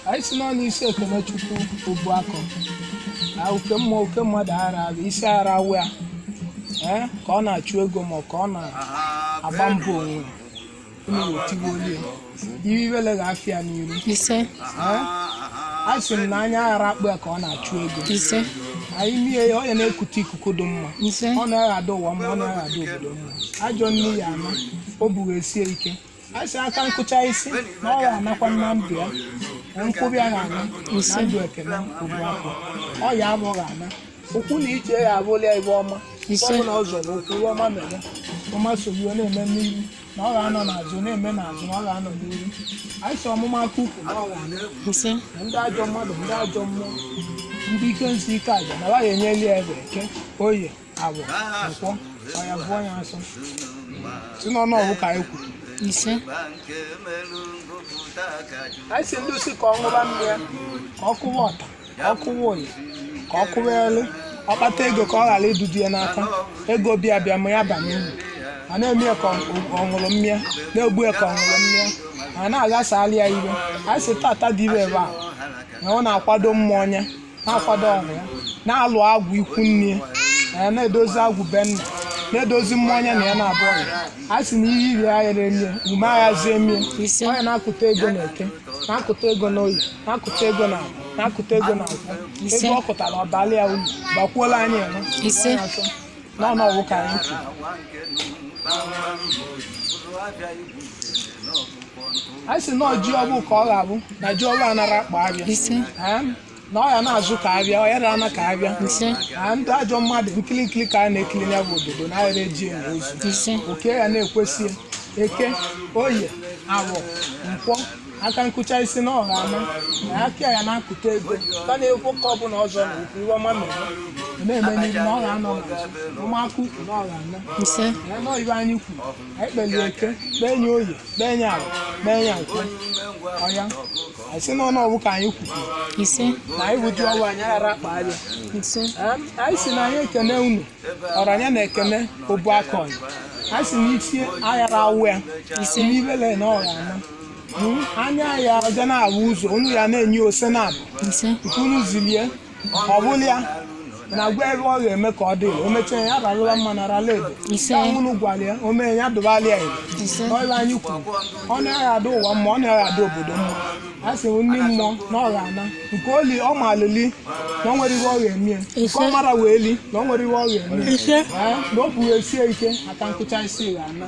anyị si n'ọnụ isi Ekenechukwu Obuakọ na oke mmụọ oke mmadụ ara ala isi ara awa ya ee ka ọ na-achụ ego ma ọ ka ọ na-agba mbọ onwe unu wetigbu onye iwe iwele ga-afịa n'iru ise ee a sị m na anya ara akpọ ya ka ọ na-achụ ego ise na imi ya ọ ya na-ekute ikuku dị mma ise ọ na-adị ụwa mma ọ na-adị obodo mma ajọ nne ya ama o bughesie ike a sị aka nkụcha isi na ọ ga-anakwa na ndụ ya na nkwụbi ya ga-ana na ndụ Ekene Obuakọ ọ ya abụ ga-ana ụkwụ na ije ya abụla ya ije ọma Ise. ọ bụla ọ zọrọ ụkwụ ife ọma mere ọma sogbuo na-eme n'iru na ọ ga-anọ n'azụ na-eme n'azụ na ọ ga-anọ n'iru anyị sị ọmụma aka ụkwụ na ọ ga-ana ise na ndị ajọ mmadụ ndị ajọ mmụọ ndị ike nsi ike aja na ọ ga-enyeli ya efe eke oye afọ nkwọ ọ ya abụ ya nsọ si n'ọnụ ọfọ ka anyị kwuru ise anyị si ndị usi ka ọ ṅụba mmịa ka ọ kụwa ọta ka ọ kụwa oyi ka ọ kụwa elu ọ kpata ego ka ọ ghara idudu ya n'aka ego bịa bịa ma ya abana ya uru a na-amị ya ka ọgọlọ mmịa na-egbu ya ka ọgọlọ mmịa a na-aghasala ya ife anyị si tata dị ire ebe a na ọ na-akwado mmụọ nya na-akwado ọgwụ ya na-alụ agwụ ikwu nne ya na-edozi agwụ be nna na-edozi mmụọ nya na ya na-abụ ọgwụ a sị na ihe iri agha emie ume aghazi emie ọ ya na-akụta ego na eke na-akụta ego na oye na-akụta ego na afọ na-akụta ego na nkwọ ego ọ kụtara ọ baala ya ulu bakwuola anyị eme n'ọnụ ọfọ ka anyị kwuru anyị si na oji ọfọ ka ọ ga-abụ na oji ọfọ anara akpa afịa ise Ee, na ọ ya na-azụ ka afịa ọ ya na-ana ka afịa ise na ndị ajọ mmadụ nkiri nkiri ka a na-ekiri ya bụ ododo na adịrọ eji eni ozu ise oke ya na-ekwesị eke oye afọ nkwọ aka nkụcha isi na ọ ga-ana na aka ya na-akụta ego ka na-ekwu ka ọ bụla ọ zọla ụkwụ ife ọma mere na-eme n'ihu na ọ ga-anọ na ọmụma aka ụkwụ na ọ ga-ana ise ya nọ ebe anyị kwuru anyị kpeli eke kpee nye oye kpee nye afọ kpee nye nkwọ ọya anyị si n'ọnụ ọfọ ka anyị kwuru ise na anyị wụ oji ọfọ anyị aghara akpa afịa ise Em, anyị si na anyị ekene unu ọranya na Ekene Obuakọ nya anyị si na isi aghara awa ya isi n'ibele na ọ ga-ana anya ya ga na-ahụ ụzọ unu ya na-enye ose na abụ ise nke unu zilie ọ bụla ya na gwa ebe ọ ga-eme ka ọ dị o mechaa ya ralụla mma na rala edo Ise. Ka unu gwara ya o mee ya dụbala ya edo Ise. ọla anyị kwuru ọ na-adị ụwa mma ọ na-adị obodo mma a sị m ndị mmụọ na ọ ga-ana nke oli ọ ma alili na ọ nwere ihe ọ ga-eme ya. nke Ise. ọ mara wee li na ọ nwere ihe ọ ga-eme ya. Ise. Ee, na o bughesie ike aka nkụcha isi ga-ana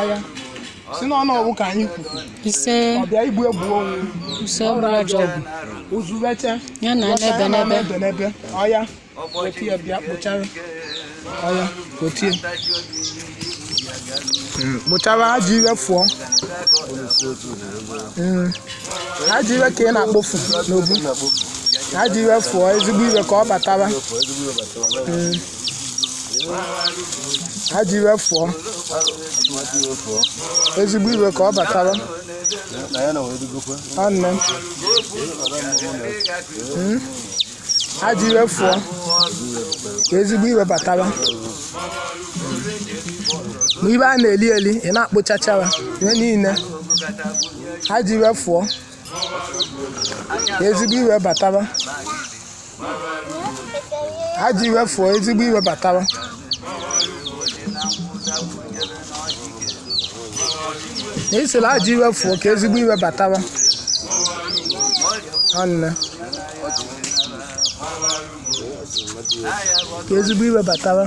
ọya si na ọnọgwụ ka anyị kwuru ise ọbịa igbu egbu onwe ise ọbụla ọjọ ọgwụ uzubeche ya na Ọcha n'ebe ya na n'ebe n'ebe n'ebe ọya weta ya bịa kpochara ọya kotie kpochara ajọ iwe fụọ Mm. ajọ iwe ka ị na-akpofu n'obu ajọ iwe fụọ ezigbo iwe ka ọ batawa Mm. ajọ iwe fụọ ezigbo iwe ka ọ bataba nwanne m Mm. ajọ iwe fụọ ka ezigbo iwe bataba ma ibe a na-eli eli ị na-akpochacha ya ihe niile ajọ iwe fụọ ezigbo iwe bataba ajọ iwe fụọ ezigbo iwe bataba na isila ajọ iwe fụọ ka ezigbo iwe bataba nwanne ka ezigbo iwe bataba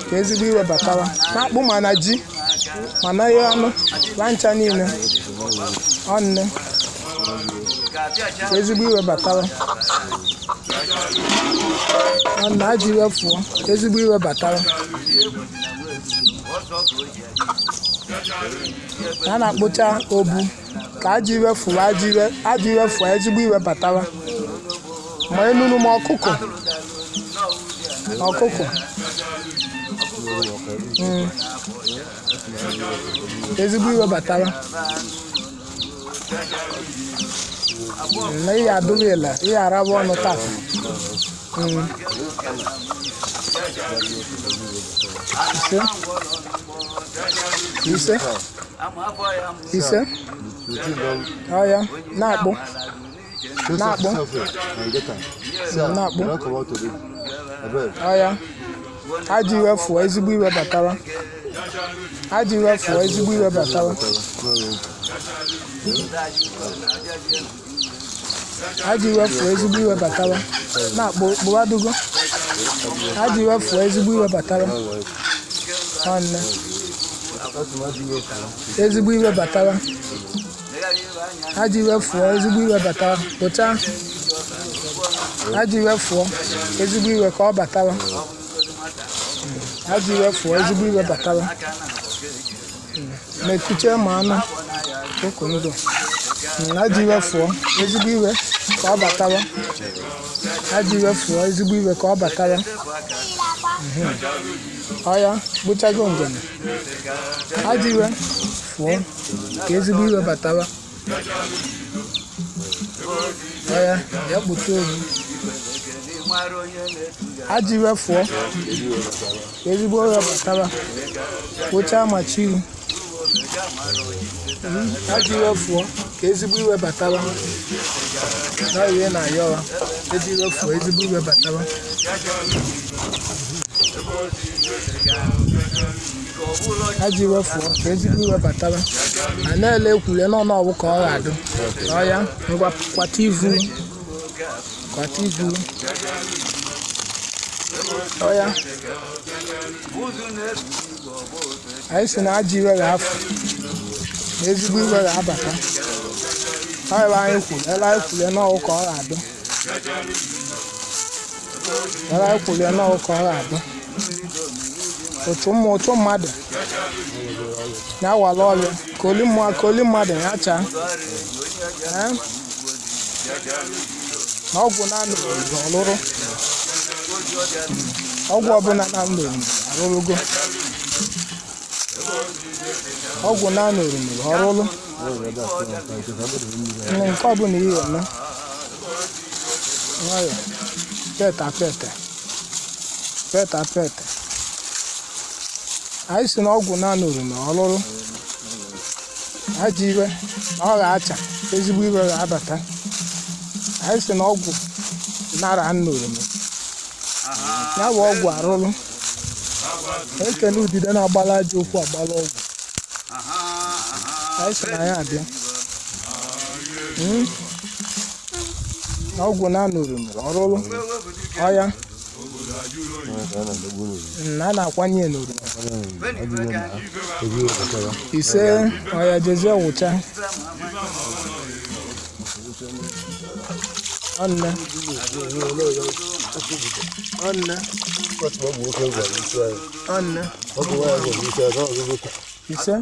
ka ezigbo iwe batawa na akpụ ma na ji ma na ihe anụ na ncha niile ọ nne ka ezigbo iwe batawa ọ nne ajọ iwe fụọ ka ezigbo iwe batawa a na-akpocha obu ka ajọ iwe fụwa ajọ iwe ajọ iwe fụwa ezigbo iwe batawa ma enunu ma ọkụkọ ọkụkọ Mm. ezigbo iwe batawa na ihe adụghị ele ihe araba ọnụ taa Mm. ise ise ise ọya na-akpụ ọya ajọ iwe fụọ ezigbo iwe batawa ajọ iwe fụọ ezigbo iwe batawa ajọ iwe fụọ ezigbo iwe batawa na kpụwadugo ajọ iwe fụọ ezigbo iwe batawa nwanne ezigbo iwe batawa ajọ iwe fụọ ezigbo iwe batawa pụta ajọ iwe fụọ ezigbo iwe ka ọ batawa ajọ iwe fụọ ezigbo iwe batawa mekuchie ma anụ okụ ndụ ajọ iwe fụọ ezigbo iwe ka ọ batawa ajọ iwe fụọ ezigbo iwe ka ọ batawa Mhm. ọya bụchago njem ajọ iwe fụọ ka ezigbo iwe batawa ọya kpụta obi ajọ iwe fụọ ezigbo iwe batawa kpochaa ma chiri ajọ iwe fụọ ka ezigbo iwe batawa na ihe na ayọwa ajọ iwe fụọ ezigbo iwe batawa ajọ iwe fụọ ka ezigbo iwe batawa a na-ele ekwule n'ọnụ ọ wụ ka ọ ga-adụ ọ ya ngwa kwata ivu kwata ivu ọ ya anyị si na ajọ iwe ga-afụ na ezigbo iwe ga-abata ọ ele anyị kwuru ele anyị kwuru na ọ wụ ka ọ ga-adụ Ele anyị kwuru ya na ọ wụ ka ọ ga-adụ otu ụmụ otu mmadụ ya wala ọrịa ka oli mmụọ ka oli mmadụ ya chaa Ee? na ọgwụ naanị obodo ọlụrụ ọgwụ ọbụla na ndụ arụrụgo ọgwụ naanị orumere ọrụrụ Nne, nke ọbụla ihe eme nwayọ pete apete pete apete anyị si na ọgwụ na-anụrụ na ọlụrụ ajọ iwe na ọ ga-acha ezigbo iwe ga-abata anyị si na ọgwụ nara nnụrụ na ya bụ ọgwụ arụrụ ekene udide na-agbala ajọ okwu agbala ọgwụ anyị si na ya abịa Mm. na ọgwụ na-anụrụ nụrụ ọrụrụ ọya Mm, a na-akwanye ya n'oru ise ọya jezie wụcha ọnne ọnne ọnne ise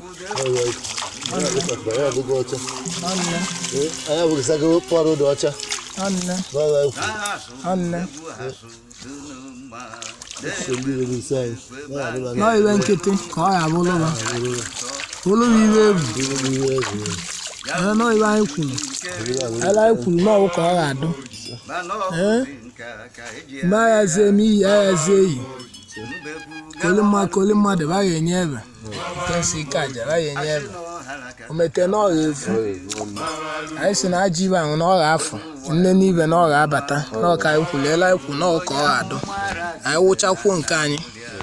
nọ iwe nkịtị ka ọ ya bụ ụlọ ụlọ iwe egwu ee nọ iwe anyị kwuru ele anyị kwuru na ọ wụ ka ọ ga-adụ ee mgbe aghazie eme iyi aghazie eyi koli mmadụ koli mmadụ baghị enye ebe kesi ike aja baghị enye ebe o mete na ọ gha-efu anyị si na aji ibe ahụ na ọ gha-afụ nne n'ibe na ọ gha-abata na ọ ka anyị kwuliela ikwu na ọ ka ọ gha-adụ anyị wụchakwuo nke anyị